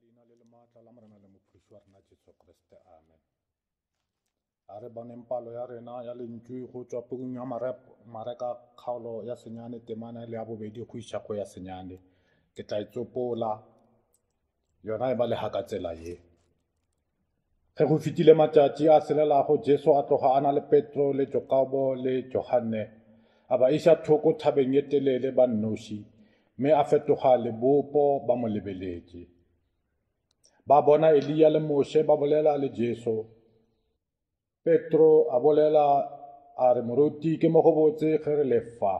Leina le lemaatla la Morena le Mophološi wa rena Jesu Kriste. Amen. A re boneng palo ya rena ya lentšu go tswa pukung ya mareka kgaolo ya senyane temana le ya bobedi go iša go ya senyane ke tla e tsopola yona e ba lehaka tsela ye Ge go fetile matšatši a selelago, Jesu a tloga a na le Petro le Jokobo le Johanne, a ba iša thoko thabeng ye telele ba nnoši, mme a fetoga lebopo ba mo lebeletše. Ba bona Eliya le Moshe ba bolela le Jesu. Petro a bolela a re moruti ke mo go botse ge re lefa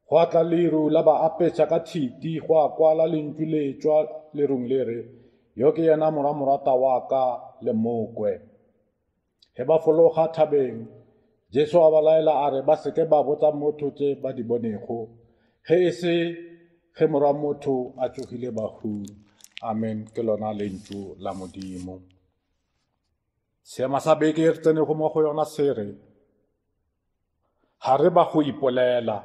go atla leru la ba apetša ka thiti go a kwala lentšu le tšwa lerung le re yo ke yena mora morata wa ka le mokwe ge ba fologa thabeng jesu a ba laela a re ba seke ba botsa motho tše ba di bonego ge e se ge mora motho a tsogile bahung amen ke lona lentšu la modimo Seema sa beke e re tsenego mo go yona se re, Ga re ba go ipolela,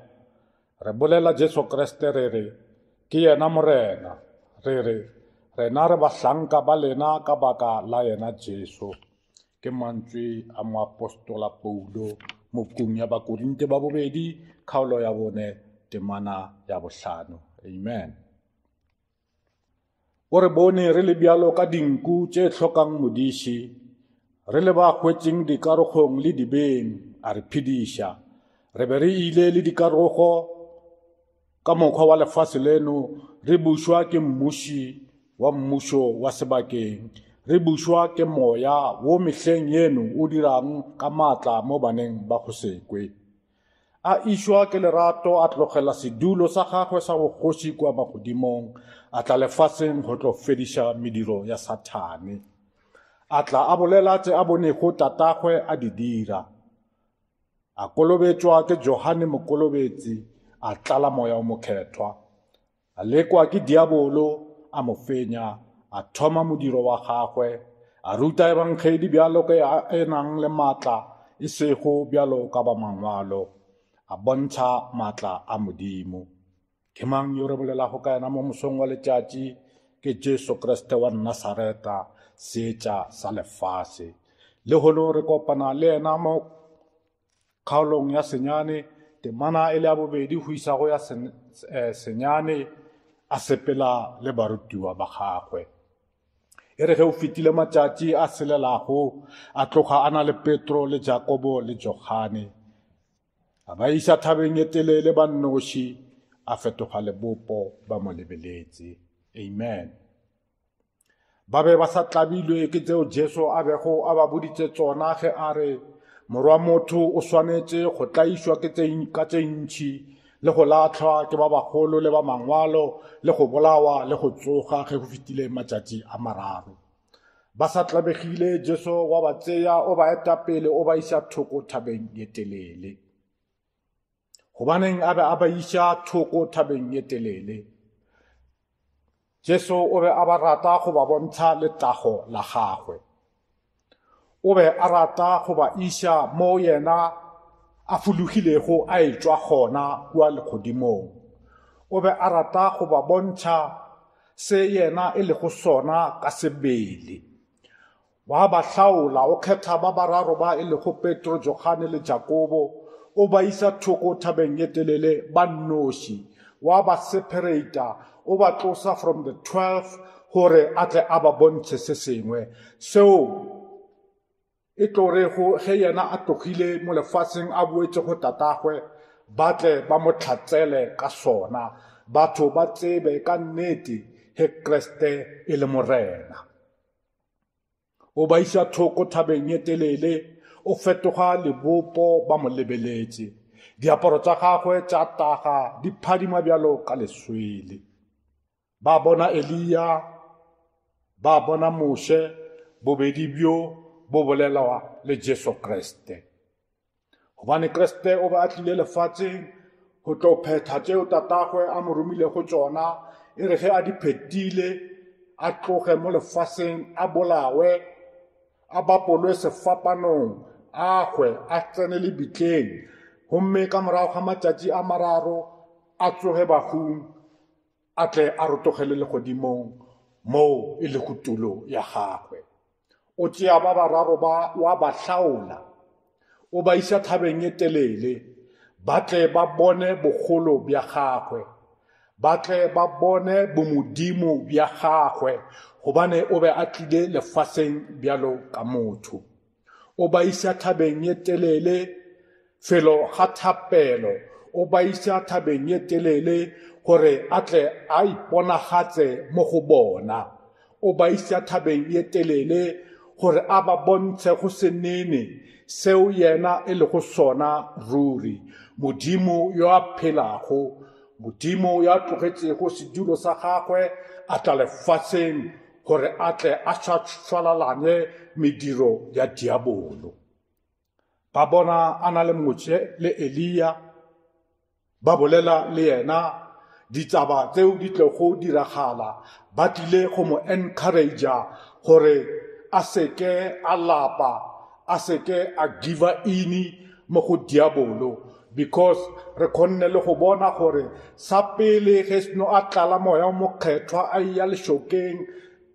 re bolela Jesu Kriste re re, ke yena Morena, re re, rena re bahlanka ba lena ka baka la yena Jesu. Ke mantswe a moapostola Paulo mokung ya Bakorinte ba bobedi, kgaolo ya bone, temana ya bohlano. Amen. O re bone re le bjalo ka dinku tše hlokang modiši, re le ba hwetseng dikarogong le dibeng, a re phediša. Re be re ile le dikarogo ka mokgwa wa lefase leno, re bušwa ke mmuši wa mmušo wa sebakeng, re bušwa ke moya wo mehleng yeno o dirang ka maatla mo baneng ba go sekwe. A išwa ke lerato a tlogela sedulo sa gagwe sa bogoši kua magodimong, a tla lefaseng go tlo fediša mediro ya Sathane. A tla a bolela tše a bonego tatagwe a di dira. A kolobetšwa ke Johane Mokolobetsi, a tlala Moya o Mokhethwa. A lekwa ke diabolo, a mo fenya, a thoma modiro wa gagwe, a ruta ebangedi bjalo ka ya e nang le matla, e sego bjalo ka ba mangwalo, a bontšha matla a Modimo. Ke mang yo re bolelago ka yena mo mosong wa letšatši? Ke Jesu Kriste wa Nasareta, seetša sa lefase. Lehono re kopana le yena mo Kgaolong ya senyane, temana e le ya bobedi go isa go ya sen, e, senyane a sepela le barutiwa ba gagwe. E re ge o fetile matšatši a selelago, a tloga a na le Petro le Jakobo le Johane. A ba isa thabeng e telele ba nnoši, a fetoga lebopo ba mo lebeletse. Amen. Ba be ba sa tlabilwe ke tseo Jesu a bego a ba boditse tsona ge a re, Morwa motho o swanetše go tlaišwa ka tše ntšhi le go lahlwa ke ba bagolo le ba mangwalo le go bolawa le go tsoga ge go fetile matšatši a mararo. Ba sa tlabegile Jesu wa ba tseya o ba eta pele o ba iša thoko thabeng ye telele. gobaneng a be a ba iša thoko thabeng ye telele jesu o be a ba rata go ba bontsha letago la gagwe o be a rata go ba iša mo yena a fologilego a etšwa gona kua legodimong o be a rata go ba bontšha se yena e lego sona ka sebele Wa ba hlaola, o kgetha ba bararo ba e lego Petro, Johane le Jakobo, o ba isa thoko thabeng ye telele ba nnoši. Wa ba sephereita, o ba tlosa from the twelve gore a tle a ba bontšhe se sengwe seo e tlo rego ge yena a tlogile mo lefaseng a boetše go Tatagwe, ba tle ba mo tlhatsele ka sona, batho ba tsebe ka nnete ge Kriste e le Morena. o ba iša thoko thabeng e telele o fetoga lebopo ba mo lebeletše diaparo tša gagwe tša taga di phadima bjalo ka leswele ba bona eliya ba bona moshe bobedi bjo bo bolelwa le jesu kriste Gobane Kriste o be a tlile lefatsheng go tlo phetha tseo tatagwe a mo romile go tsona e re ge a di phetile a tloge mo lefaseng a bolawe a bapolwe sefapanong a hwe a tsene le bitleng gomme ka morago ga matšatši a mararo a tsoge bagong a tle a rotogele legodimong moo e lego tulo ya gagwe O tšea ba bararo ba wa ba hlaola, o ba isa thabeng e telele, ba tle ba bone bogolo bja gagwe, ba tle ba bone bomodimo bja gagwe, gobane o be a tlile lefaseng bjalo ka motho. O ba isa thabeng e telele, Felo ga thapelo, o ba isa thabeng ye telele gore a tle a iponagatse mo go bona. O ba isa thabeng ye telele gore a ba bontshe go senene seo yena e lego sona ruri, Modimo yo a phelago, Modimo yo a tlogetšego sedulo sa gagwe a tla lefaseng gore a tle a šwalalanye mediro ya diabolo. ba bona a na le motše le eliya ba bolela le yena ditaba tseo di tlogo diragala ba tlile go mo encouragea gore a seke a lapa a seke a giva ini mo go diabolo because re kgonne le go bona gore sa pele ge seno a tlala moya o mokgethwa a eya lešokeng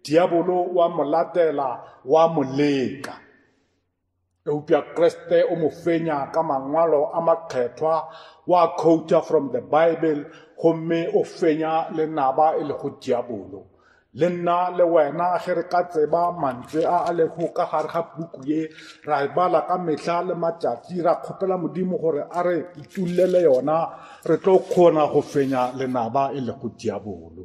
diabolo wa mo latela wa mo leka Eupša Kriste o mo fenya ka mangwalo a makgethwa, wa khouta from the Bible, gomme o fenya le naba e lego diabolo. Le nna le wena ge re ka tseba mantswe a a lego ka gare ga puku ye, ra e bala ka mehla le matšatši, ra kgopela Modimo gore a re itulele yona, re tlo kgona go fenya lenaba e lego diabolo.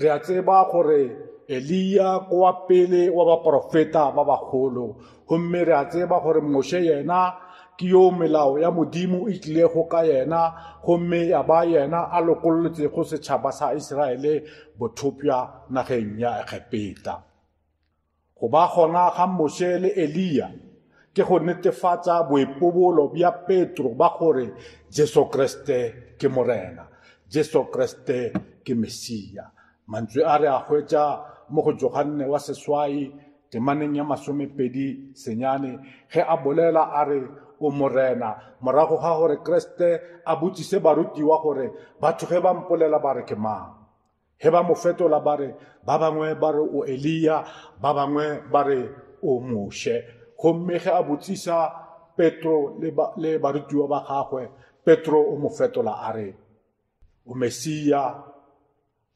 re a tseba gore eliya ko wa pele wa baporofeta ba bagolo gomme re a tseba gore moshe yena ke yo melao ya modimo e tlilego ka yena gomme ya ba yena a lokololetsego setšhaba sa iseraele bothopša nageng ya egepeta Go ba gona ga Moshe le Eliya ke go netefatša boipobolo bja Petro bja gore Jesu Kriste ke Morena, Jesu Kriste ke Mesia. Mantswe a re a hwetša mo go Johanne wa Seswai temaneng ya masomepedi senyane ge a bolela a re, O Morena, morago ga gore Kriste a botšiše barutiwa gore batho ge ba mpolela ba re ke mang. Ge ba mo fetola ba re, ba bangwe ba re o Eliya, ba bangwe ba re o Moshe. Gomme ge a botsisa Petro le, ba, le barutiwa ba gagwe, Petro o mo fetola a re, o Mesiya,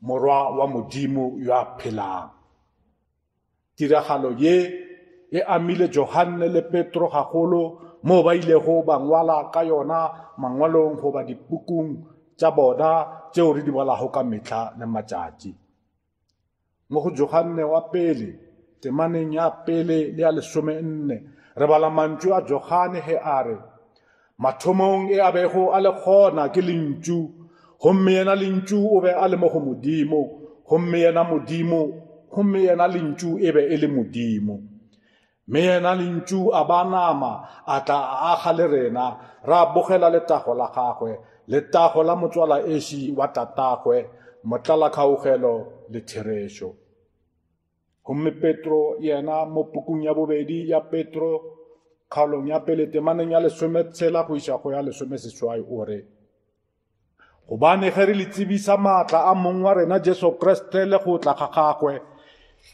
morwa wa Modimo yo a phelang. Tiragalo ye e amile Johanne le Petro gagolo moo ba ilego ba ngwala ka yona mangwalong goba dipukung tša bona tšeo re di balago ka mehla le matšatši. Mo go Johanne wa pele, temaneng ya pele le ya lesome nne, re bala mantšu a Johane ge a re, Mathomong e a bego a le gona ke Lentšu, gomme yena Lentšu o be a le mo go Modimo, gomme yena Modimo, gomme yena Lentšu e be e le Modimo. Mme yena Lentšu a ba nama, a tla a aga le rena, ra bogela letago la gagwe, letago la motswala esi wa tatagwe, motlalakgaogelo le therešo. Gomme Petro yena mo pukung ya bobedi ya Petro kgaolong ya pele temaneng ya lesome tshela go iša go ya lesome seswai o re gobane ge re le tsebisa maatla a mong wa rena jesu kriste le go tla ga gagwe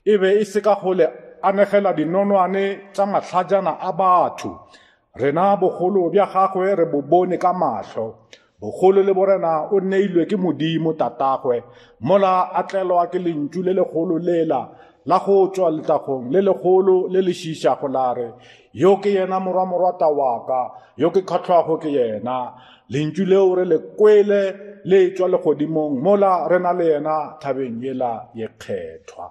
e be e se ka go le anegela dinonwane tša mahlajana a batho rena bogolo bja gagwe re bo bone ka mahlo Bogolo le borena o neilwe ke Modimo Tatagwe, mola a tlelwa ke lentšu le legolo lela la go tšwa letlagong le legolo le le šišago la re, Yo ke yena morwa morwata wa ka, yo ke kgahlwago ke yena. Lentšu leo re le kwele le tšwa legodimong mola re na le yena thabeng yela ye kgethwa.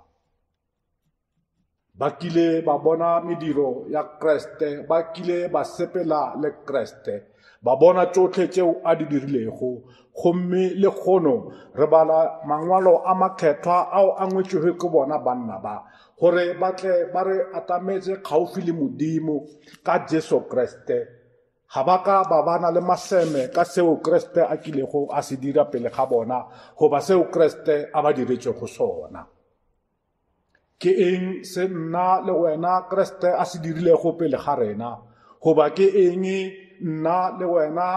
ba kile ba bona mediro ya kreste ba kile ba sepela le kreste ba bona tšohle tšeo a di dirilego gomme le kgono re bala mangwalo a makgethwa ao a ngwetšwego ke bona banna ba gore ba tle ba re atametše kgauswi le modimo ka jesu kreste Ga ba ka ba ba na le maseme ka seo Kriste a kilego a se dira pele ga bona goba seo Kriste a ba diretšego sona. Ke eng se nna le wena Kriste a se dirilego pele ga rena goba ke eng nna le wena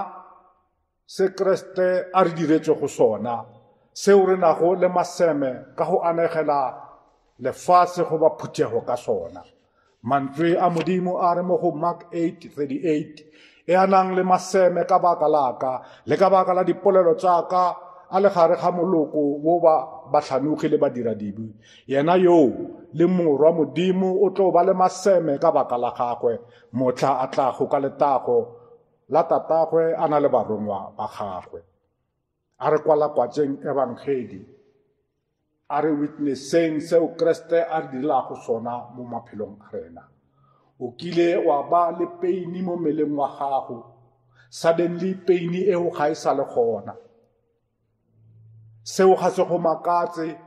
se Kriste a re diretšego sona, seo re nago le maseme ka go anegela lefase goba phuthego ka sona. Mantswe a Modimo a re mo go Mark 8:38, e a nang le maseme ka baka laka le ka baka la dipolelo tša ka a le gare ga moloko wo ba bahlanogi le badiradibi yena yoo le morwa modimo o tlo ba le maseme ka baka la gagwe mohla a tlago ka letago la Tatagwe a na le barongwa ba gagwe. A re kwalakwatšeng ebangedi, a re witnesseng seo Kriste a re direlago sona mo maphelong a rena. O kile wa ba le peini mo meleng wa gago, suddenly peini eo ga e sa le gona. seo ga se go makatse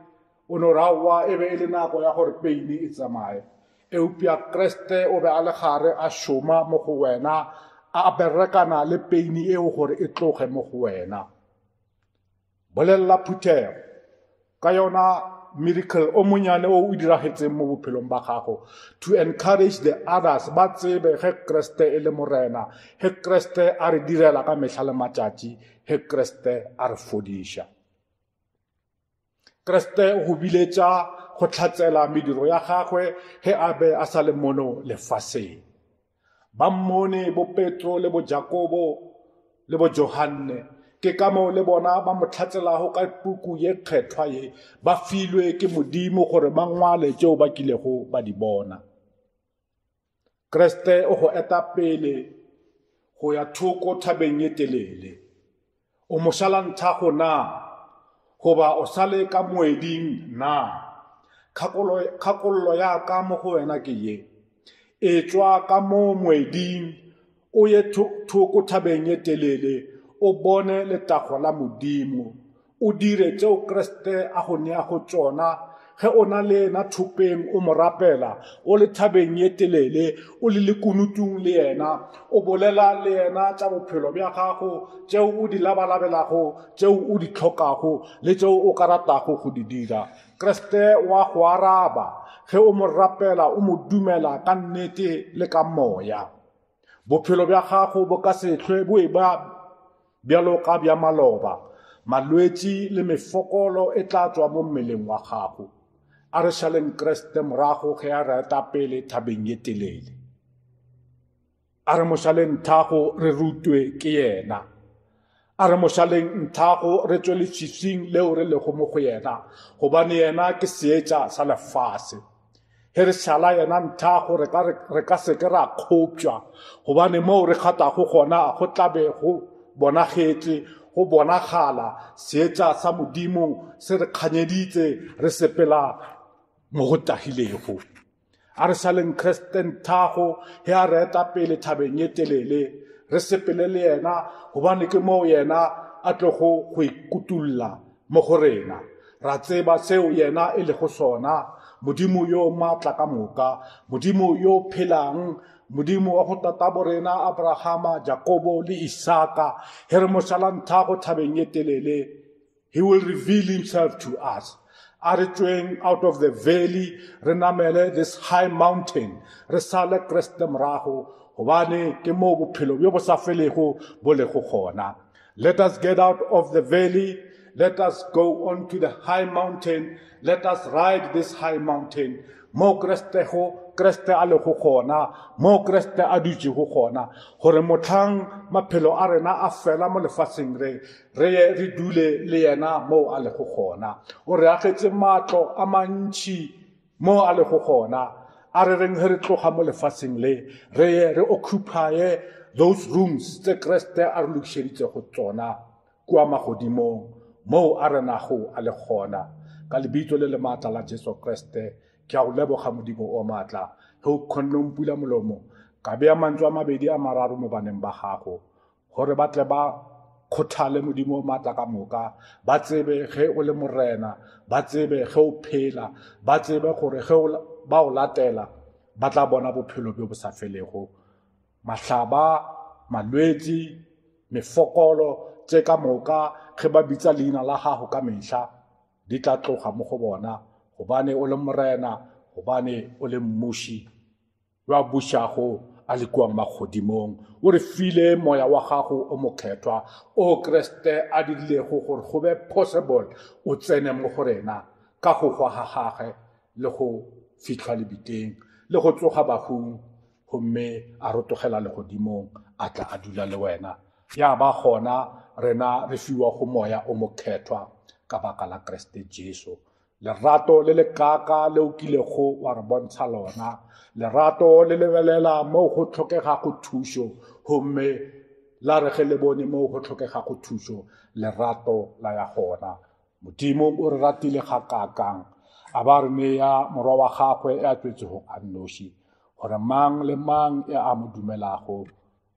o no ra wa e be e le nako ya gore peine e tsamaye eupša kreste o be a le gare a šoma mo go wena a berekana le peine eo gore e tloge mo go wena bolelela phuthego ka yona miracle o monyane o o diragetseng mo bophelong ba gago to encourage the others ba tsebe ge kreste e le morena ge kreste a re direla ka mehla le matšatši ge kreste a re fodiša kreste o go biletša go tlhatsela mediro ya gagwe ge a be a sa le mono lefaseng Ba mmone bopetro le bojakobo le bojohanne ke ka moo le bona ba mo tlhatselago ka puku ye kgethwa ye ba filwe ke modimo gore ba ngwale tšeo ba kilego ba di bona kreste o go eta pele go ya thoko thabeng ye telele O mošalanthago na? Goba o sa le ka moeding na? Kgakolo, kgakollo ya ka mo go wena ke ye. Etšwa ka mo moeding, o ye thoko thabeng ye telele, o bone letago la Modimo, o dire tšeo Kriste a go neago tšona, Ge o na le yena thopeng, o mo rapela, o le thabeng ye telele, o le lekunutung le yena, o bolela le yena tša bophelo bja gago, tšeo o di labalabelago, tšeo o di hlokago le tšeo o ka ratago go di dira, Kriste o a go araba ge o mo rapela, o mo dumela ka nnete le ka moya. Bophelo bja gago bo ka se hlwe bo e ba Bjalo ka bja maloba, malwetši le mefokolo e tla tšwa mo mmeleng wa gago. A re šaleng Kriste morago ge a re etapele thabeng ye telele. A re mošaleng nthago re rutwe ke yena. A re mošaleng nthago re tšwe lefifing leo re lego mo go yena, gobane yena ke seetša sa lefase. ge re šala yena nthago re ka seke ra kgopša gobane moo re kgathago gona go tlabe go bonagetše go bonagala seetša sa modimo se re kganyeditse re sepela mo go tagilego a re sa leng kristen thago ge a re eta pele thabeng ye telele re sepele le yena gobane ke moo yena a tlogo go ikutulla Mo go rena. Ra tseba seo Yena e lego sona, Modimo yo matla ka moka, Modimo yo phelang, Modimo wa go tatabo rena Abrahama, Jakobo le Isaka, he re mošalanthago thabeng ye telele, He will reveal Himself to us. A re tšweng out of the valley, re namele this high mountain, re sale Kriste morago, gobane ke moo bophelo bjo bo sa felego bo lego gona. Let us get out of the valley. Let us go on to the high mountain. Let us ride this high mountain. Mo Kreste ho Kreste a le go gona, mo Kreste a dutše go gona, gore motlhang maphelo a rena a fela mo lefatsheng re re ye re dule le yena moo a le go gona. O re agetše matlo a mantšhi Mo a lego gona, a re reng ge re tloga mo lefaseng le, re ye re occupaye those rooms tse Kriste a re lokišeditšego tsona kua magodimong, moo a renago a le gona. Ka Lebitso le le maatla la Jesu Kriste, ke a go leboga, Modimo o maatla, ge o kgonne go mpula molomo, ka bea mantšu a mabedi a mararo mo baneng ba gago. gore ba tle ba kgothale modimo o maatla ka moka ba tsebe ge o le morena ba tsebe ge o phela ba tsebe gore ge ba o latela ba tla bona bophelo bjo bo sa felego mahlaba malwetši mefokolo tše ka moka ge ba bitsa leina la gago ka mehla di tla tloga mo go bona gobane o le morena gobane o le mmuši yo a bušago a le kua magodimong o re file moya wa gago o mokgethwa o kreste a dirilego gore go be possible o tsene mo go rena ka go hwa ga gage le go fitlhwa lebiteng le go tsoga bahung gomme a rotogela legodimong a tla a dula le wena ya ba gona rena re fiwa go moya o mokgethwa ka baka la kreste jesu lerato le lekaaka le o kilego wa re bontsha lona lerato le lebelela moo go tlhokegago thušo gomme la re ge le bone moo go tlhokegago thušo lerato la ya gona modimo o re ratile ga kakang a ba re neya morwa wa gagwe ya tswetsego a nnoši gore mang le mang e a mo dumelago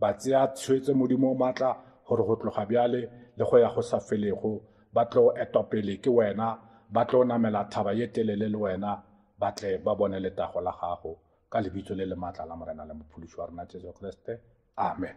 Ba tsea tshwetso Modimo o matla gore go tloga bjale le go ya go sa felego ba tlo etwa pele ke wena, ba tlo namela thaba ye telele le wena, ba tle ba bone letago la gago, ka lebitso le le matla la Morena le Mophološi wa rena Jesu Kriste. Amen.